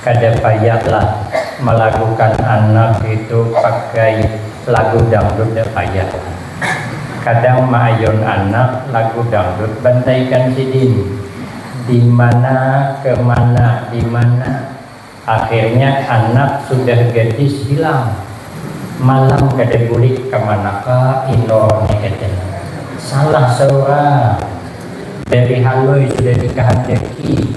Kada payah lah malagukan anak itu pakai lagu dangdut dak payah lah. Kadang maayun anak lagu dangdut bantaikan sidin dimana kemana dimana akhirnya anak sudah gadis hilang malam kada bulik kamanaka inor ni kata salah seorang dari haloi sudah dikahandaki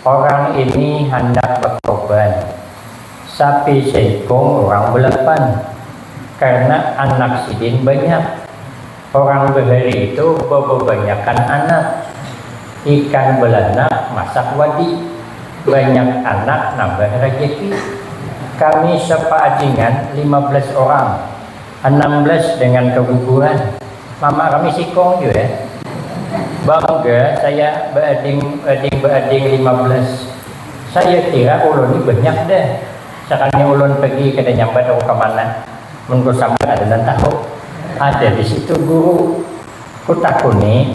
Orang ini handak bakorban, sapi seikung orang belapan, karna anak sidin banyak. Orang bahari itu bababanyakan anak. Ikan balanak masak wadi, banyak anak nambah rajaki. Kami sapaadingan lima belas orang. Anam belas dengan keguguran, Mama kami sikong jua. Bangga saya beading ading beading lima belas. Saya kira ulun ni banyak dah. Sakalinya ulun pergi kada nyambat aku ka mana. Mun ku sambat ada nang tahu. Ada di situ guru. Ku takuni.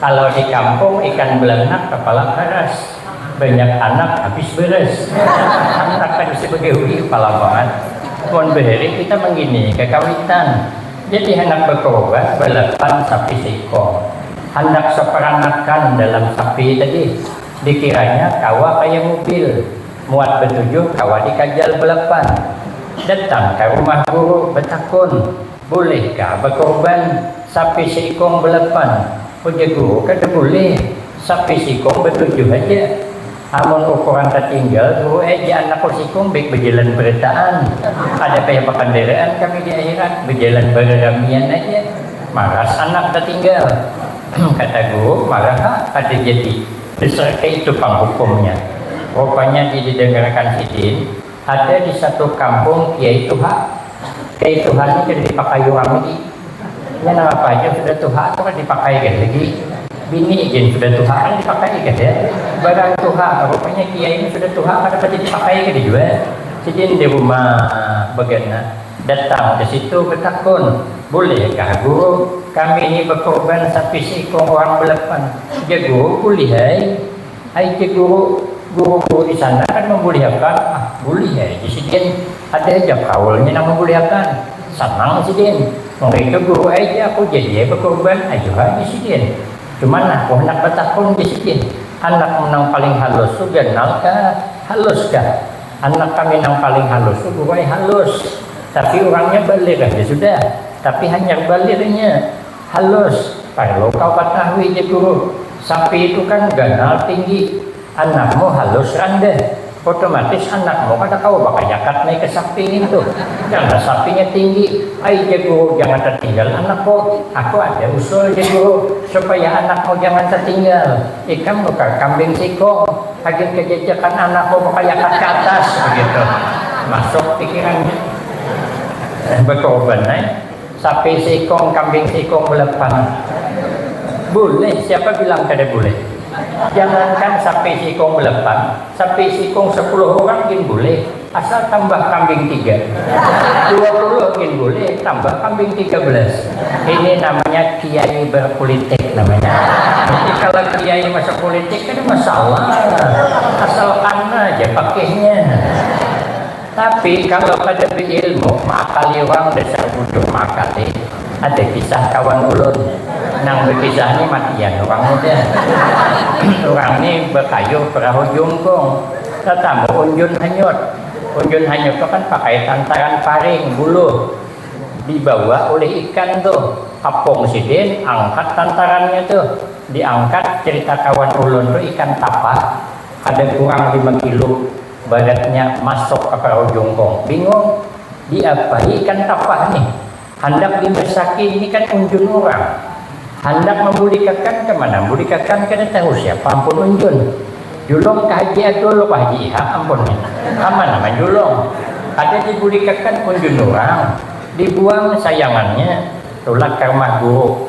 Kalau di kampung ikan belanak kepala karas, banyak anak habis beras. Hantakan si Begawi kepala bangat, mun bahari kita mangini kakawitan, jadi handak bakawabat balapan sapi seiko. Handak saparanakan dalam sapi tadi, dikiranya kawa kaya mubil, muat batujuh kawa dikajal balapan. Datang ka rumah guru batakun. Bulih ka bakorban sapi seikong belapan? Ujar guru, kada bulih, sapi seikong batujuh haja. Amun ukuran tatinggal guru ai ja anakku seikong baik bajalan barataan. Kada payah bakandaraan kami di akhirat, bajalan bararamian haja. Maras anak tatinggal. Kata guru, marah ha, kada jadi. Dasar kaitu pang hukumnya. Rupanya didadangarakan sidin. Ada di satu kampung kiai tuha, kiai tuha ni kada dipakai urang lagi, inya nang apa haja sudah tuha tu kada dipakai gin lagi, bini gin sudah tuha kada dipakai kada, barang tuha, rupanya kiai ni sudah tuha kada pati dipakai kada jua, sidin di rumah bagana datang ka situ batakun, bulih kah guru kami ni bakurban sapi seikung urang balapan, jar guru bulih ai. Ai ke guru, guru-guru di sana kada mambulihakan, ah bulih ai ja sidin, ada haja kaulnya nang mambulihakan, sanang sidin, mangaitu guru ai ja aku jadi ai bakurban, ayu ha ja sidin, cuman aku handak batakun ja sidin, anakmu nang paling halus tu ganal kah, halus kah, anak kami nang paling halus tu guru ai halus, tapi urangnya balir haja sudah, tapi hanyar balir inya. Halus, parlu kau katahui ja Guru, sapi itu kan ganal tinggi, anakmu halus randeh, otomatis anakmu kada kawa bakayakat naik ke sapi ngintu, karna sapinya tinggi, ai ja Guru jangan tatinggal anakku, aku ada usul ja Guru, supaya anakmu jangan tatinggal, ikam nukar kambing sikung, hagin kajajakan anakmu bakayakat ke atas, begitu masuk pikirannya, bekorban ai. Sapi seikong, kambing seikong bulan panas. Boleh, siapa bilang kada boleh. Jangankan sapi seikong belapan, sapi seikong sepuluh urang gin boleh, asal tambah kambing tiga. Dua puluh gin boleh, tambah kambing tiga belas. Ini namanya kiai berpulitik namanya. Jadi kala kiai masuk pulitik kada masalah, asal kana haja pakihnya. Tapi kalo kada biilmu maakali wang dasar buduh maakali, ada kisah kawan ulun nang bakisah ni matian urang muda. Urang ni bakayuh perahu jungkung, tatamu unjun hanyut. Unjun hanyut tu kan pakai tantaran paring, buluh, dibawa ulih ikan tu kapung sidin angkat tantarannya tu, diangkat carita kawan ulun tu ikan tapah kada kurang lima kilo. Badatnya masuk ka parau jungkung. Bingung, diapai ikan tapah nih? Handak dimasaki ini kan unjun urang. Handak mambulikakan ka mana? Bulikakan kada tahu siapa ampun unjun. Julung ka Haji Adul wah Haji Ihak ampun nih. Ka mana manjulung? Kada dibulikakan unjun urang. Dibuang sayangannya. Tulak ka rumah guru.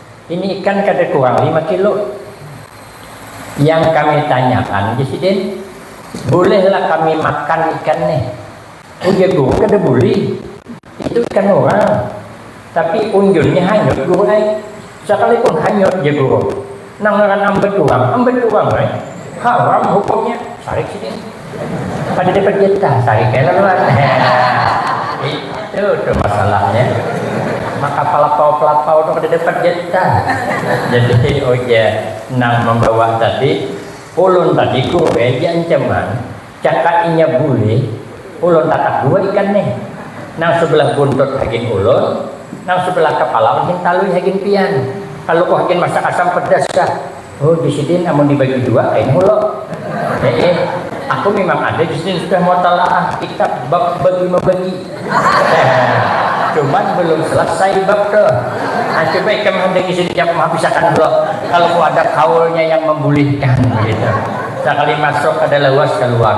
Ini ikan kada kurang lima kilo. Yang kami tanyakan di sidin, bolehlah kami makan ikan ni? Ujar guru, kada boleh. Itu ikan orang. Tapi unjunnya hanyut guru ai. Sakalipun hanyut, jar guru, nang ngaran ambat urang, ambat urang ai. Haram hukumnya, sarik sidin. Pada dapat duit kah? Sari kena luar. Itu tuh masalahnya. Maka pelapau-pelapau tuh kada dapat duit kah? Jadi ujar nang membawa tadi, ulun tadi kuwe diancaman, jaka inya bulih, ulun tatak dua ikan nih. Nang sebelah buntut hagin ulun, nang sebelah kepala ulun hintalui hagin pian. Kaluku hagin masak asam pedas kah? Oh jus sidin amun dibagi dua kain mulo. Eh eh, aku memang ada jus sidin sudah mutalaah kitab bab bagi membagi. Cuman belum selesai bab tu. Nah, coba ikam handak isi di jawab habisakan dulu. Kalau ku ada kaulnya yang membolehkan begitu. Sekali masuk ada lawas keluar.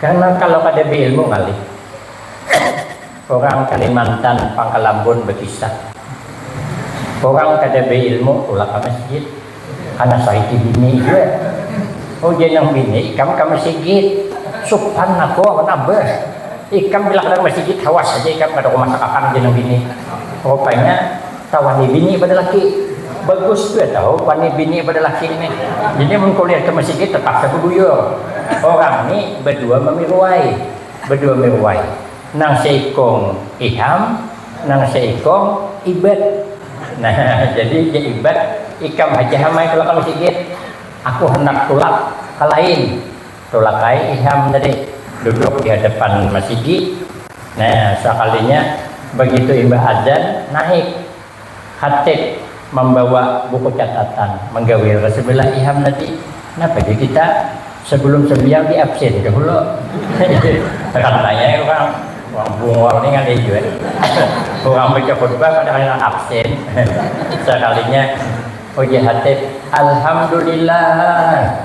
Karna kalo kada beilmu ngalih. Orang kalimantan pangkalambun bakisah. Orang kada beilmu tulak ka masjid. Kana sahiti bini jua. Ujar nang bini ikam ka masigit. Supan aku awan abah. Ikam bila kada ka masigit hawas haja ikam kada kumasak akan ujar nang bini. Rupanya. Kawani bini pada laki. Bagus jua tahu wani bini pada laki nih. Jadi mun kuliah ke Mesigi tetap ke Kebuyur. Orang nih bedua memiruai. Bedua miruai. Nang seikung Iham, nang seikung Ibat. Nah, jadi ja Ibat, ikam haja Ham ai tulak ka Mesigi. Aku handak tulak ka lain. Tulak ai Iham tadi duduk di hadapan masigi, nah sakalinya bagitu imbah adzan naik khatib mambawa buku catatan manggawil ka sabilah Iham tadi, napa ja kita sabalum sambiang di absin dahulu tekan nanya ai urang, urang Bungor ni ngalih jua ni urang baca khutbah kada kaya nang absin sakalinya ujar khatib Alhamdulillah.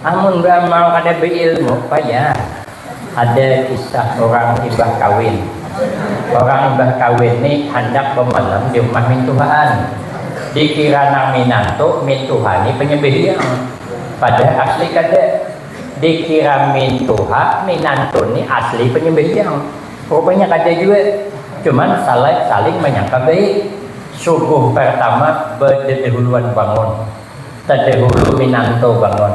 Amun beramal kada beilmu payah. Ada kisah urang imbah kawin. Urang imbah kawin ni handak bemalam di rumah mintuhaan. Dikira nang minantu mintuha ni penyembelih hiang. Padahal asli kada. Dikira mintuha minantu ni asli penyembelih hiang. Rupanya kada jua. Cuman saling manyangka baik. Subuh partama bededahuluan bangun. Tadahulu minantu bangun.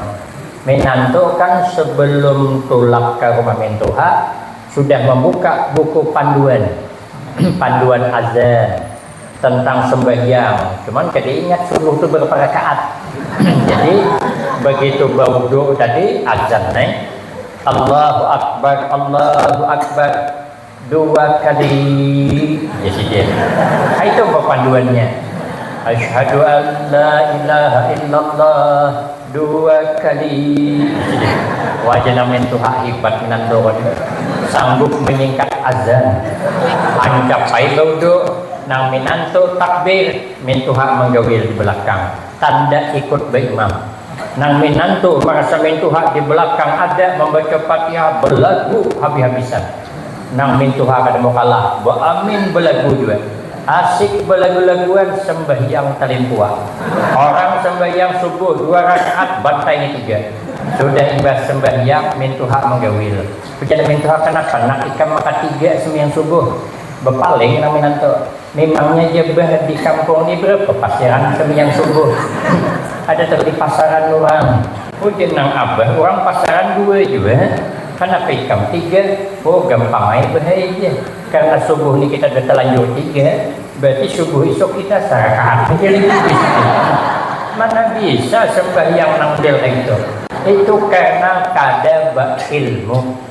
Minantu kan sebelum tulak ka rumah mintuha sudah mambuka buku panduan, panduan azan, tentang sembahyang, cuman kada ingat subuh tu barapa rakaat. Jadi bagitu bawudhu tadi azan ai, Allahu Akbar, Allahu Akbar, dua kali ya sidin itu papanduannya asyhadu an la ilaha illallah dua kali sidin wajah namin tuh hak hibat minan doon sanggup menyingkat azan ancap ai baudu nang minan tuh takbir min tuh hak manggawil di belakang tanda ikut baimam Nang minantu marasa mintuha di belakang ada mambaca Fatihah belagu habis-habisan. Nang mintuha kada mau kalah, baamin belagu jua. Asik belagu-laguan sambahyang talimpuah. Orang sambahyang subuh dua rakaat bantai ngitu ja. Sudah imbah sambahyang mintuha manggawil. Ujar nang mintuha, Kanapa nak ikam makatiga sambahyang subuh? Bapaling nang minantu. Mimangnya ja bah di kampung ni ber pepasiran kemian subuh. Ada tahu di pasaran urang. Ujar nang abah urang pasaran dua jua, kanapa ikam tiga? Oh gampang ai bah ai jar, karna subuh ni kita ada talanjur tiga, berarti subuh isuk kita sarakaan haja lagi bisitu. Mana bisa sembahyang nang model kaya itu. Itu karna kada ba ilmu.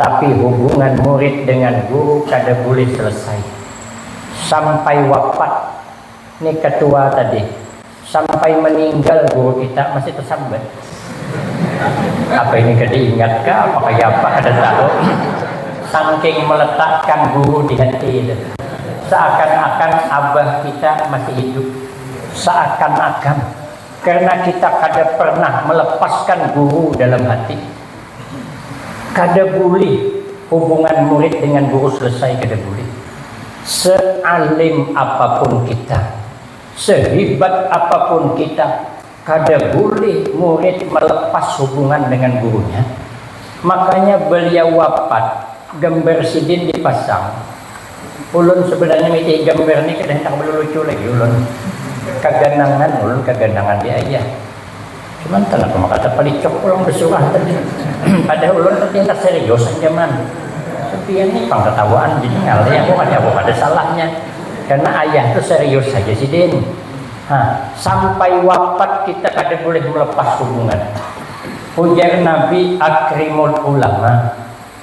Tapi hubungan murid dengan guru kada bulih selesai. Sampai wapat ni ketua tadi, sampai meninggal guru kita masih tersambat. Apa ini kada ingat kah apa kaya apa kada tahu. Sangking meletakkan guru di hati itu. Seakan-akan abah kita masih hidup. Seakan-akan. Karena kita kada pernah melepaskan guru dalam hati. Kada bulih hubungan murid dengan guru selesai kada bulih. Sealim apapun kita, sehibat apapun kita, kada bulih murid melepas hubungan dengan gurunya. Makanya beliau wafat, gambar sidin dipasang. Ulun sebenarnya miti gambar ni kada handak balulucu lagi ulun, kaganangan ulun kaganangan di aja, cuman kanapa maka tapalicok pulang basurah tadi padahal ulun tadi handak serius aja man, sepian ni pang tatawaan jadi ngalih aku kada aku kada salahnya karna ayah tu serius haja sidin ha sampai wapat kita kada bulih melepas hubungan, ujar nabi akrimul ulama.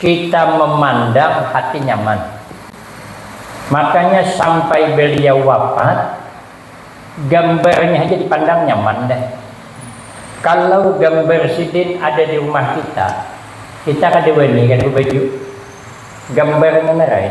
Kita memandang hati nyaman. Makanya sampai beliau wapat, gambarnya haja dipandang nyaman dah. Kalau gambar sidin ada di rumah kita, kita kada wani kada bebaju. Gambarnya nara ai.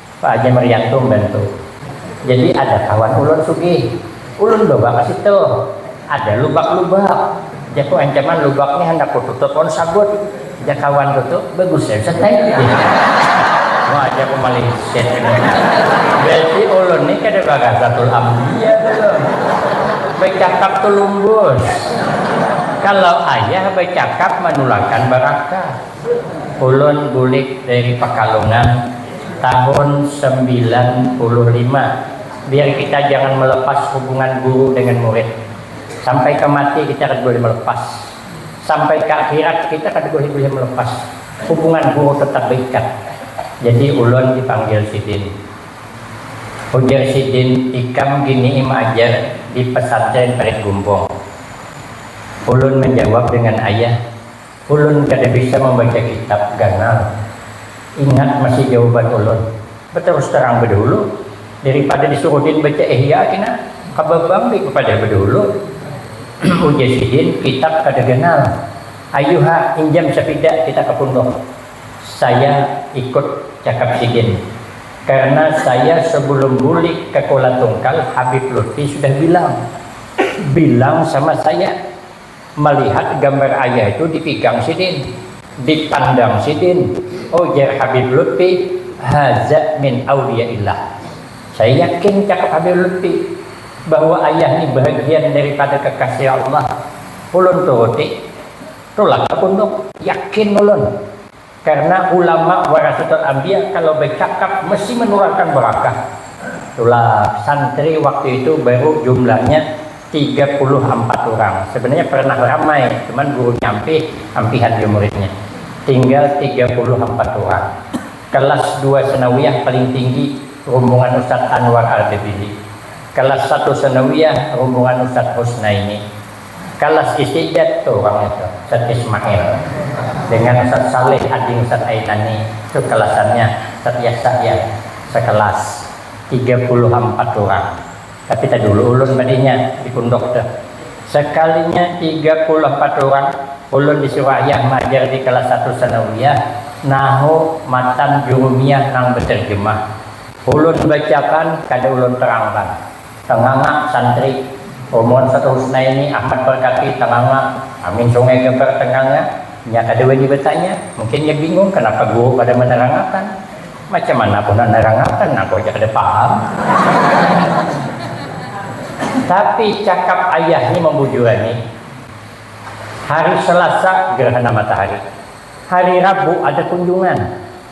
Pak Haji Marianto mbantu. Jadi ada kawan ulun sugih. Ulun bawa ka situ. Ada lubak-lubak. Jaku ancaman lubak ni handak kututup lawan sabut. Jar kawan ku tu, bagus ai Ustaz ai. Wah jar ku malinsir ini. Berarti ulun ni kada baghasatul ambiya dulu. Bacakap tu lumbus. Kalau ayah bacakap manulakan barakah. Ulun bulik dari Pakalungan tahun sembilan puluh lima, biar kita jangan melepas hubungan guru dengan murid. Sampai ka mati kita kada boleh melepas, sampai ka akhirat kita kada boleh boleh melepas hubungan guru tetap beikat. Jadi ulun dipanggil sidin. Ujar sidin ikam gini maajar di pesantren Parit Gumbong. Ulun menjawab dengan ayah. Ulun kada bisa mambaca kitab ganal. Ingat masih jawaban ulun, batarus tarang badahulu daripada disuruh din baca Ihya kina, kababang lih bapadah badahulu. Ujar sidin, kitab kada ganal. Ayu ha, injam sapida kita ka punduk. Saya ikut cakap sidin. Karna saya sabulum bulik ka Kuala Tungkal Habib Lutfi sudah bilang. Bilang sama saya. malihat gambar ayah itu dipigang sidin, dipandang sidin, ujar Habib Lutfi, Haza min auliyaillah. Saya yakin, cakap Habib Lutfi, bahwa ayah ni bahagian daripada kekasih Allah. Ulun turuti, tulak ka punduk, yakin ulun. Karna ulama warasatul anbiya kalau bacakap mesti manurarkan barakah. Tulak, santri waktu itu baru jumlahnya tiga puluh ampat urang. Sebenarnya pernah ramai, cuman gurunya ampih, ampihan jua muridnya. Tinggal tiga puluh ampat urang. Kelas dua sanawiyah paling tinggi rumbungan Ustadz Anwar Ardebili. Kelas satu sanawiyah rumbungan Ustadz Husnaini. Kalas istidat tu pang itu Ustaz Ismail dengan Ustaz Saleh ading Ustaz Ainani tu kelasannya Ustaz Yasa ya sekelas tiga puluh ampat urang tapi tadulu ulun badinya di punduk tu sekalinya tiga puluh ampat urang ulun disuruh ayah maajar di kelas satu sanawiyah nahu matan jurumiyah nang beterjemah ulun bacakan kada ulun terangkan Tanganga, Santri, Umur satu Husnaini, Ahmad Perkati, Tanganga, Amin Sungai Geber, Tanganga, Nya kada wani batanya, mungkin nya bingung kanapa guru kada manerangakan. Macam mana aku nak nerangakan, aku haja kada paham. Tapi cakap ayah ni mambujuran ni. Hari Selasa gerhana matahari. Hari Rabu ada kunjungan.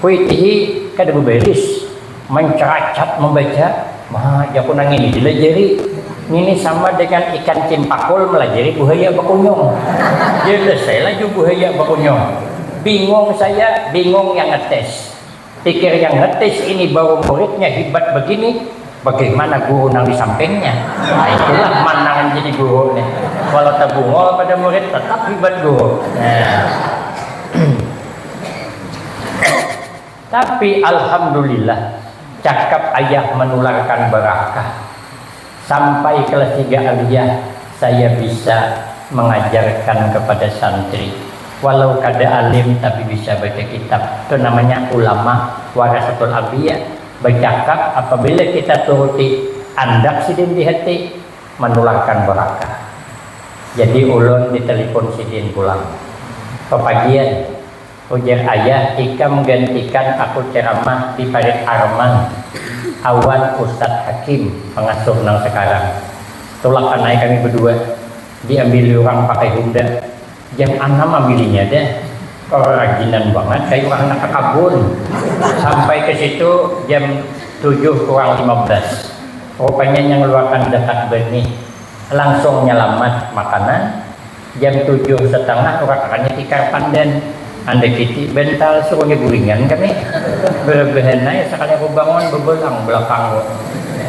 Kuitihi kada babaris, mancaracat mambaca. Ma, jaku nang ini dilajari. Ngini sama dengan ikan cimpakul malajari buhaya bakunyung. Jelas ai laju buhaya bakunyung. Bingung saya, bingung yang ngetes. Pikir yang ngetes ini baru muridnya hibat begini. Bagaimana guru nang di sampingnya? Nah, itulah mandangan jadi guru nih. Walau tabungol pada murid, tetap hibat guru. Nah. Tapi alhamdulillah cakap ayah manularkan barakah. Sampai kelas tiga aliyah saya bisa mengajarkan kepada santri. Walau kada alim tapi bisa baca kitab. Itu namanya ulama warasatul anbiya. Bacakap apabila kita turuti andak sidin di hati manulangkan barakah. Jadi ulun di telepon sidin pulang. Papagian, ujar ayah ikam gantikan aku ceramah di parit Arman awan Ustadz Hakim, pangasuh nang sakarang. Tulakan ai kami badua diambili urang pakai Honda. Jar anam am bininya deh, kerajinan bangat kaya urang handak ka kabun. Sampai ka situ jam tujuh kurang lima belas. Rupanya inya ngeluarkan dekat benih. Langsung nyalamat makanan, jam tujuh setengah urakakannya tikar pandan. Andai kici bental suruh nya guringan kami. Belebehan ai sakali aku bangun bebelang belakang ko.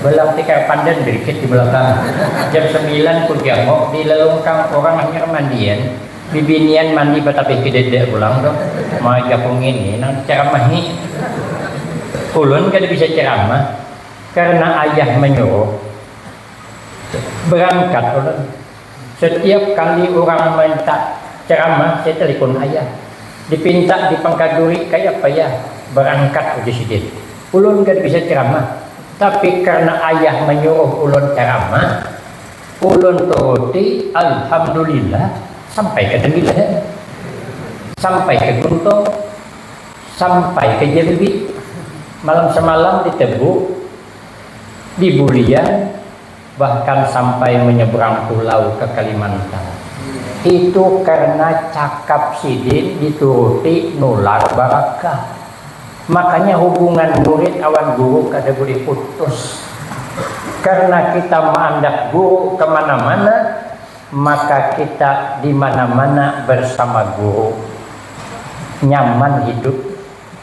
Belang tikar pandan berikit di belakang. Jam sembilan ku janguk di lelungkang urang hanyar mandian, bibinian mandi batapih kedede pulang tu. Ma jaku ngini nang diceramahi. Ulun kada bisa ceramah karena ayah menyuruh. Berangkat ulun. Satiap kali urang minta caramah saya talipun ayah, dipinta di pangkaduri kaya apa ya barangkat ujar sidin, ulun kada bisa caramah tapi karna ayah manyuruh ulun caramah ulun turuti alhamdulillah sampai ka Tanggilahan, sampai ka Guntung, sampai ka Jambi, malam samalam di Tebu, di Bulian. Bahkan sampai menyeberang pulau ke Kalimantan. Itu karena cakap sidin dituruti nular barakah. Makanya hubungan murid awan guru kada boleh putus. Karena kita maandak guru ke mana-mana, maka kita di mana-mana bersama guru. Nyaman hidup.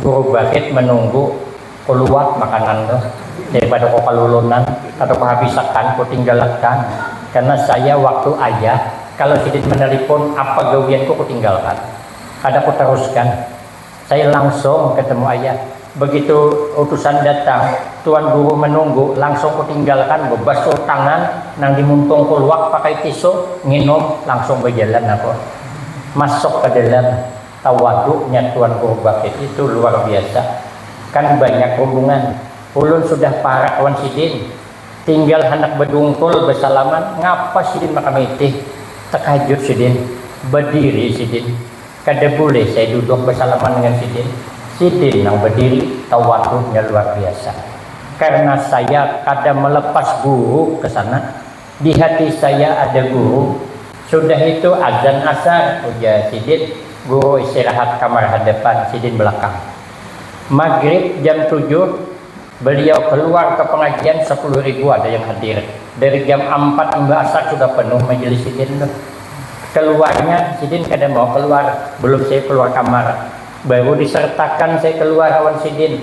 Guru Bagit manunggu kuluar makanan tu daripada ko kalulunan atau ko habis akan ko tinggal akan karna saya waktu ayah kalau sidin manalipun apa gawian ko kutinggal akan kada ko taruskan saya langsung ketemu ayah begitu utusan datang tuan guru manunggu langsung ko tinggal akan bebasuh tangan nang di muntung kuluar pakai tisu nginum langsung bajalan aku masuk ka dalam. Tawaduknya tuan guru bakit itu luar biasa, kan banyak rumbungan, ulun sudah parak wan sidin, tinggal handak badungkul basalaman ngapa sidin maka mitih, takajut sidin, badiri sidin, kada bulih saya duduk basalaman dengan sidin, sidin nang badiri, tawaduknya luar biasa, karena saya kada melepas guru kesana. Di hati saya ada guru. Sudah itu azan asar, ujar sidin. Guru istirahat kamar hadapan, sidin belakang. Magrib jam tujuh, beliau keluar ke pengajian, sepuluh ribu ada yang hadir. Dari jam ampat imbah asar sudah penuh majelis sidin tuh. Keluarnya, sidin kada mau keluar, belum saya keluar kamar. Baru disertakan saya keluar awan sidin.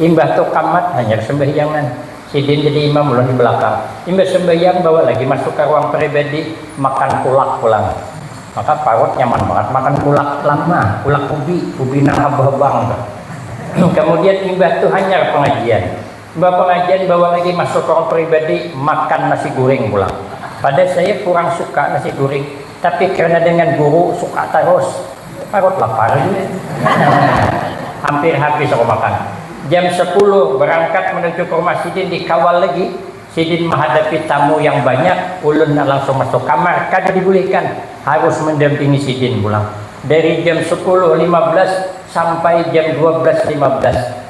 Imbah tu kamat hanyar sambahyangan. Sidin jadi imam, ulun di balakang. Imbah sambahyang bawa lagi masuk ka ruang pribadi, makan kulak pulang. Maka parut nyaman bangat makan kulak lama, kulak ubi, ubi nang habang-habang tu. Kamudian imbah tu hanyar pangajian. Imbah pangajian bawa lagi masuk ruang pribadi, makan nasi guring pulang. Pada saya kurang suka nasi guring. Tapi karena dengan guru suka tarus, parut lapar ini. Hampir habis aku makan. Jam sapuluh barangkat manuju ka rumah sidin dikawal lagi. Sidin mahadapi tamu yang banyak, ulun langsung masuk kamar kada dibulihkan harus mandampingi sidin pulang. Dari jam sapuluh lima belas sampai jam dua belas lima belas.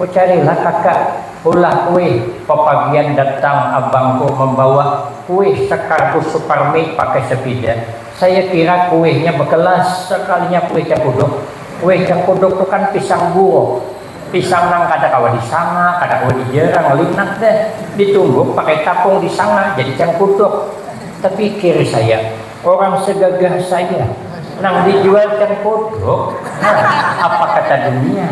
Kucarilah kakak ulah kuih papagian datang abangku mambawa kuih sakardus suparmi pakai sapida, saya kira kuihnya bakelas, sakalinya kuih cakuduk, kuih cakuduk tu kan pisang buruk, pisang nang kada kawa disanga, kada kawa dijarang, linak dah, ditumbuk pakai tapung disanga jadi cangkuduk, tapikir saya. Orang segagah saya nang dijualkan kodok apa kata dunia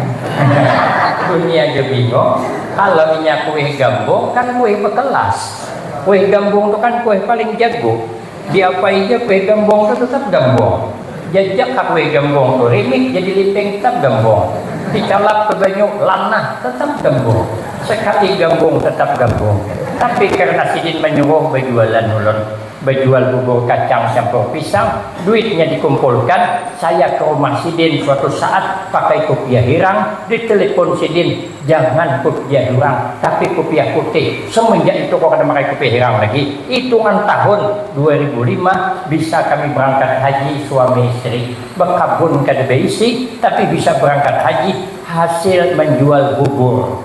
dunia ja bingong kalo inya kuih gambung kan kuih bekelas kuih gambung tu kan kuih paling jago diapai ja kuih gambung tu tetap gambung jajak ha kuih gambung tu rimik jadi liping tetap gambung dicalap ke banyu lanah tetap gambung sekali gambung tetap gambung tapi karna sidin manyuruh bajualan ulun. Bajual bubur kacang campur pisang, duitnya dikumpulkan, saya ke rumah sidin suatu saat pakai kupiah hirang, di telepon sidin, jangan kupiah hirang, tapi kupiah putih, semenjak itu ko kada makai kupiah hirang lagi, itungan tahun dua ribu lima bisa kami berangkat haji suami isteri, bekabun kada beisi tapi bisa berangkat haji hasil menjual bubur.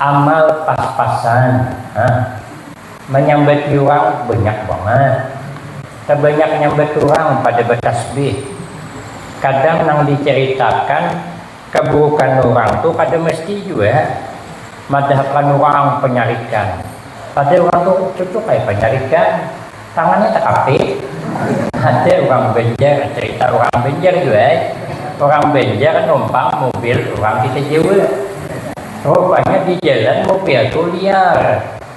amal pas-pasan ha manyambati urang banyak bangat tabanyak nyambat urang pada batasbih kadang nang dicaritakan kaburukan urang tu kada mesti jua madahakan urang panyarikan padahal urang tu cucuk ai panyarikan. Tangannya takapit, ada urang Banjar, carita urang Banjar jua ai, urang Banjar numpang mubil urang kita Jawa. Rupanya di jalan mubil tu liar,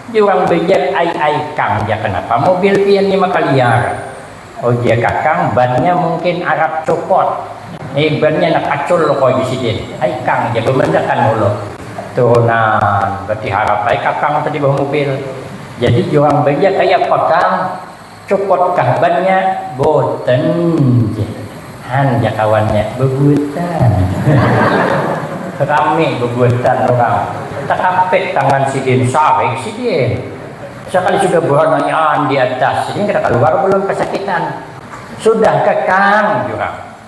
jar urang Banjar, ai ai kang jar kanapa mubil pian ni maka liar, ujar kakang bannya mungkin arap copot, ni bannya nang kacul loko jar sidin, ai kang jar bamanakan ulu, turunan batiharapai kakang tadi bah mubil, Jadi urang banjar kaya apa kang, copot kah bannya, boten jar han jar kawannya, bebutan rame bebutan urang, terapit tangan sidin, sarik sidin, sekali sudah beranaian di atas, sidin kada kaluar belum kesakitan, sudah kah kang jar urang.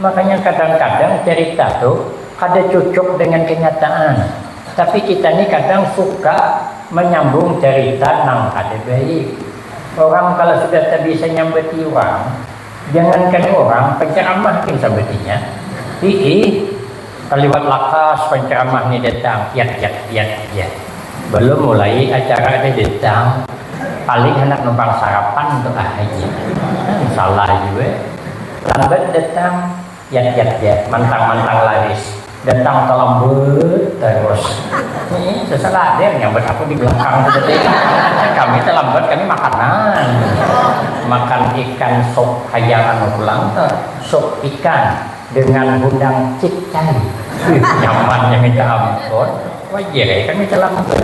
Makanya kadang-kadang cerita tu kada cucuk dengan kenyataan, tapi kita ni kadang suka manyambung cerita nang kada baik. Orang kalo sudah tabisa nyambati urang, jangankan urang, penceramah gin sambatinya. Hiih, kaliwat lakas penceramah ni datang, piat piat piat haja. Balum mulai acara ada datang, paling handak numpang sarapan tu ah haja. Kan salah jua. Lambat datang, yat yat yat, mantang mantang laris, datang talambet tarus. Nih, susah lah ada yang nyambat aku di belakang tu tadi. Kami talambat kami makanan. Makan ikan sop hayang anu pulang tu, sop ikan dengan hundang citcai. Wih, nyamannya minta ampun. Wajar ai kami talambat.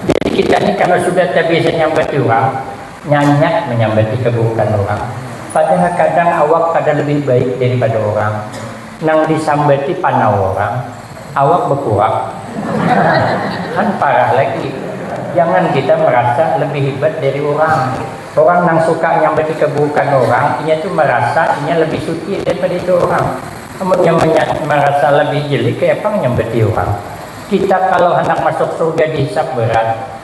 Jadi kita ni kalau sudah tabiasa nyambati urang. Nyanyak manyambati kaburukan urang, padahal kadang awak kada lebih baik daripada urang. Nang disambati panau urang, awak bakurak. Kan parah lagi. Jangan kita marasa lebih hibat dari urang. Urang nang suka nyambati kaburukan urang, inya tu marasa inya lebih suci daripada itu urang. Amunnya marasa lebih jeli, kayapang nyambati urang. Kita kalau handak masuk surga dihisap berat.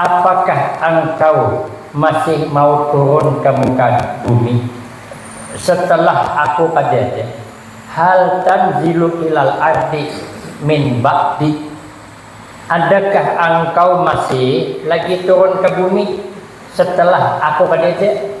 Apakah angkau masih mau turun ka muka bumi setelah Aku kajadian? Hal tanzilu ilal ardi min ba'di? Adakah angkau masih lagi turun ka bumi setelah Aku kajadian?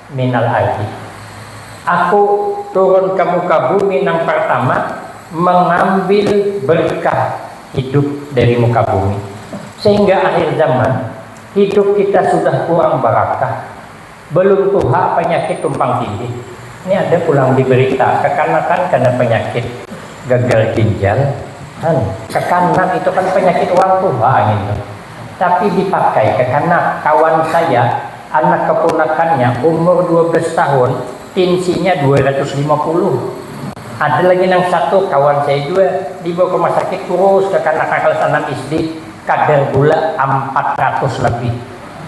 minal ardi. Aku turun ka muka bumi nang partama mangambil berkah hidup dari muka bumi. Sehingga akhir zaman, hidup kita sudah kurang barakah. Belum tuha panyakit tumpang tindih. Ni ada pulang di berita, kakanakan kena panyakit gagal ginjal. Han, kakanak itu kan panyakit urang tuha ngintu. Tapi dipakai kakanak kawan saya, anak keponakannya umur dua belas tahun, tinsinya dua ratus lima puluh. Ada lagi nang satu kawan saya jua dibawa ke masakit kurus kakanak nang kalas anam SD, kadar gula ampat ratus labih.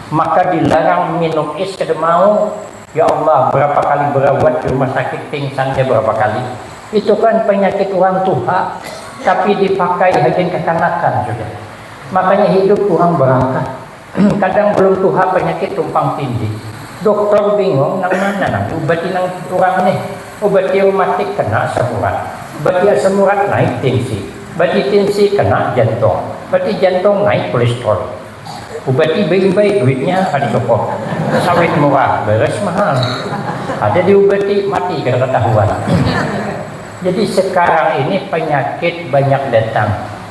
Maka dilarang minum is kada mau. Ya Allah, berapa kali berawat di rumah sakit pingsannya berapa kali. Itu kan penyakit urang tuha, tapi dipakai hagan kakanakan sudah. Makanya hidup urang berangkat. Kadang belum tuha penyakit tumpang tindih. Doktor bingung nang mana nang diubati nang urang nih. Ubati reumatik kena asam urat. Bati asam urat naik tinsi. Bati tinsi kena jantung. Bati jantung naik kolestrol. Ubati beimbai duitnya kada cukup. Sawit murah, beres mahal. Kada diubati mati kada ketahuan. Jadi sekarang ini penyakit banyak datang.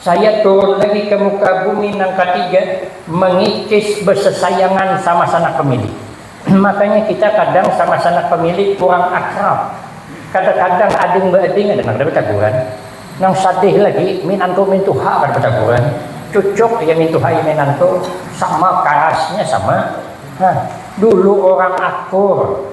Saya turun lagi ke muka bumi nang katiga mengikis besesayangan sama sanak pemilik. Makanya kita kadang sama sanak pemilik kurang akrab. Kada-kadang ading beading ada nang kada betaguran. Nang sadih lagi minantu mintuha kada betaguran. Cucuk iya mintuha iya minantu sama karasnya sama. Hah, dulu orang akur.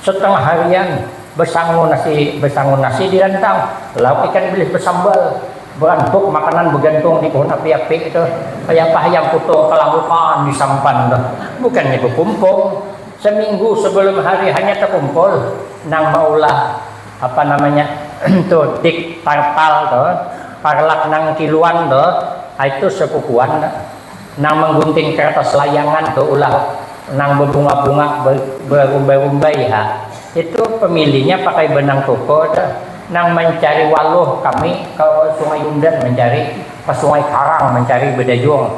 Satangah harian basangu nasi basangu nasi di rantang, lauk ikan bilis basambal, barampuk makanan bagantung di pohon api-api tu, kaya apa hayam putung kalangukan di sampan tu. Bukannya bakumpul, saminggu sabalum hari hanya takumpul nang maulah apa namanya tu dik tartal tu, parlak nang kiluan tu, ai tu sapupuan tu. nang manggunting karatas layangan tu ulah nang babunga-bunga barumbai-rumbai ha itu pamilinya pakai banang tupa tu nang mancari waluh kami ka sungai yundan mancari ka sungai karang mancari badayung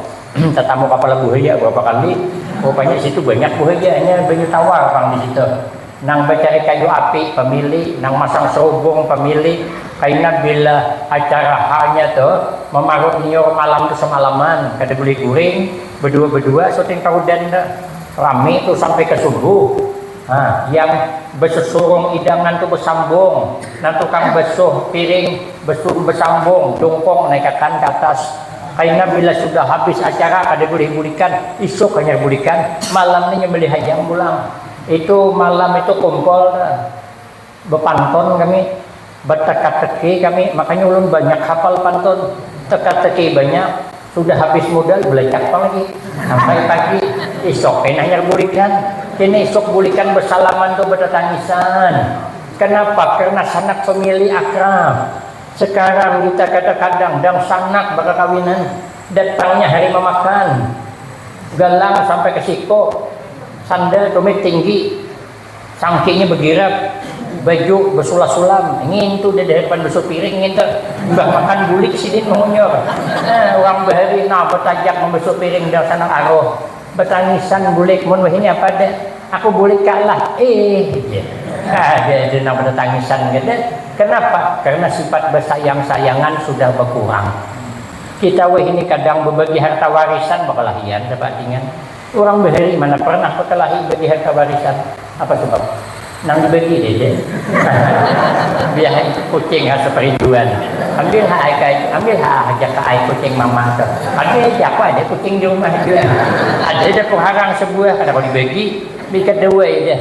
tatamu kapala buhaya barapa kali rupanya situ banyak buhayanya banyu tawar pang disitu. nang bacari kayu api pamili, nang masang serubung pamili, kaina bila acara ha nya tu mamarut niur malam tu samalaman kada bulih guring badua badua suting tarudan tu rami tu sampai ka subuh ha yang basusurung idangan tu basambung nang tukang basuh piring basuh basambung jungkung naikakan ka atas kaina bila sudah habis acara kada bulih bulikan isuk hanyar bulikan malam ni nya malihayam pulang. Itu malam itu kumpul tu bepantun kami, beteka-teki kami, makanya ulun banyak hafal pantun, teka-teki banyak, sudah habis mudal belacak pang lagi sampai pagi, isuk kena hanyar bulikan, kena isuk bulikan besalaman tu betetangisan, kenapa karnasanak famili akrab, sekarang kita kadang-kadang dangsanak bakakawinan. Datangnya hari mamakan, galang sampai ke siku, sandal tumit tinggi, cangkihnya begirap, baju besulas-sulam, ngintu di dahapan basuh piring ngintu, imbah makan bulik sidin mahunyur, nah urang bahari nah batajak mambasuh piring dang sanak aruh, batangisan bulik, mun wahini apa deh, aku bulik ka lah ih jar, ada ja nang batatangisan kada, kanapa karna sifat basayang-sayangan sudah bakurang. Kita wahini kadang babagi harta warisan bakalahian sapaatingan. Urang bahari mana parnah bakalahi bagi harta warisan? Apa sabab? Nang dibagi dede. Biar kucing rasa perinduan. Ambil ha ai kai, ambil ha ah aja ka ai kucing mama tuh. Ada aja, aku ada kucing di rumah jua. Ada aja ku harang sabuah, kada kawa dibagi. Diikat dawai dah.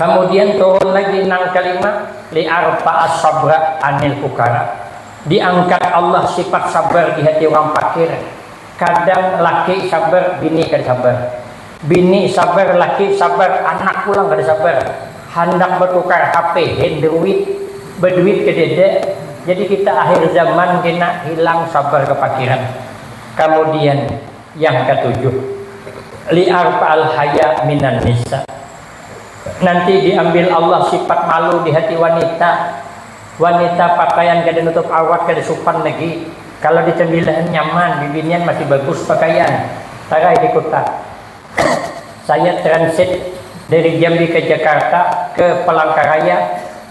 Kamudian turun lagi nang kalima, liarfa'as sabra anil fukara. Diangkat Allah sifat sabar di hati urang pakir. Kadang laki sabar, bini kada sabar. Bini sabar, laki sabar, anak pulang kada sabar. Handak batukar HP, handruid, baduit kadada. Jadi kita akhir zaman kena hilang sabar kapakiran. Kamudian. Yang katujuh, liarfa'al haya minan nisa, nanti diambil Allah sifat malu di hati wanita, wanita pakaian kada nutup awrat kada supan lagi, kalo di tembilahan nyaman, bibinian masih bagus pakaian, tarai di kuta, saya transit dari Jambi ke Jakarta ke Palangkaraya.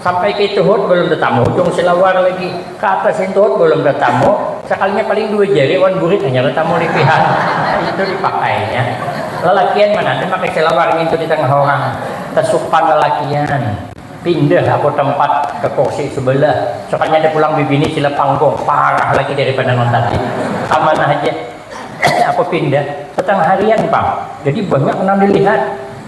Sampai ke tuhut balum tatamu hujung silawar lagi, ka atas ni tuhut balum tatamu, sakalinya paling dua jari wan burit hanyar tatamu lipihan, itu dipakainya. Lalakian mana ada makai silawar ngintu di tangah orang, tasupan lalakian. Pindah aku tempat ka kursi subalah, sakalinya ada pulang bibini sila panggung, parah lagi daripada nang tadi. Kamana haja aku pindah, satangah harian pang, jadi banyak nang dilihat.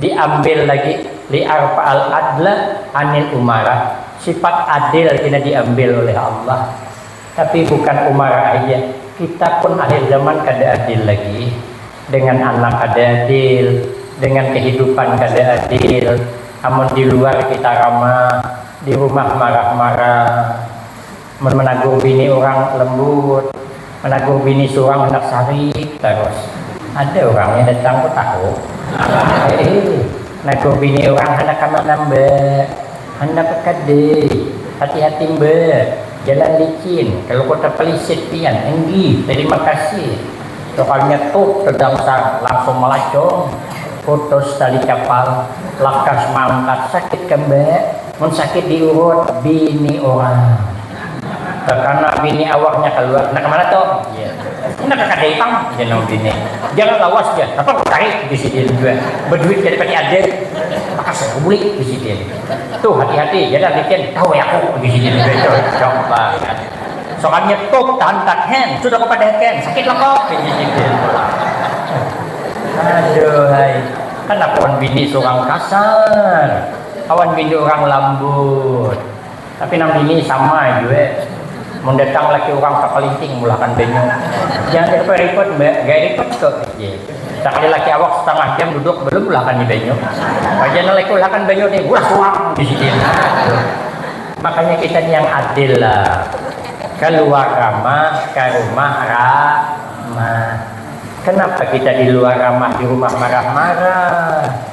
Diambil lagi, liarfa'al adla anil umarah, sifat adil kena diambil oleh Allah. Tapi bukan umarah haja, kita pun akhir zaman kada adil lagi. Dengan anak kada adil, dengan kehidupan kada adil, amun di luar kita ramah, di rumah marah-marah. Mun managur bini urang lembut, managur bini surang handak sarik tarus. Ada urangnya datang ko tahu. Heeh, nagur bini urang handak kamana mbak, handak ke kadai, hati-hati mbak, jalan licin, kalu ko tapalisit pian, enggih, tarima kasih. Sukalnya tut tadangsar, langsung malacong, putus tali kapal, lakas maangkat, sakit ka mbak? Mun sakit di urut bini urang kakana bini awaknya kaluar kena kamana tu jar kena ka kadai pang jar nang bini jangan lawas jar napa ku cari ujar sidin jua baduit kada pati ada maka suruh ku buli ujar sidin tu hati hati jar dah licin tahu ai aku ujar sidin jua itu jauh bangat sokan nyetup tahantak hen sudah ku padahakan sakit loko ujar sidin pulang aduhai handak lawan bini surang kasar. Kawan pintu urang lambut. Tapi nang bini sama jua. Mun datang laki urang takalinting mulahkan banyu. Jangan direpot repot mbak, gaya ripet ko uji. Sakali laki awak setangah jam duduk balum mulahkan ni banyu. Raja nang laki ulahkan banyu ni ulah puang disidin. Makanya kita ni yang adil lah. Kaluar ramah, karumah ramah. Kenapa kita diluar ramah dirumah marah marah.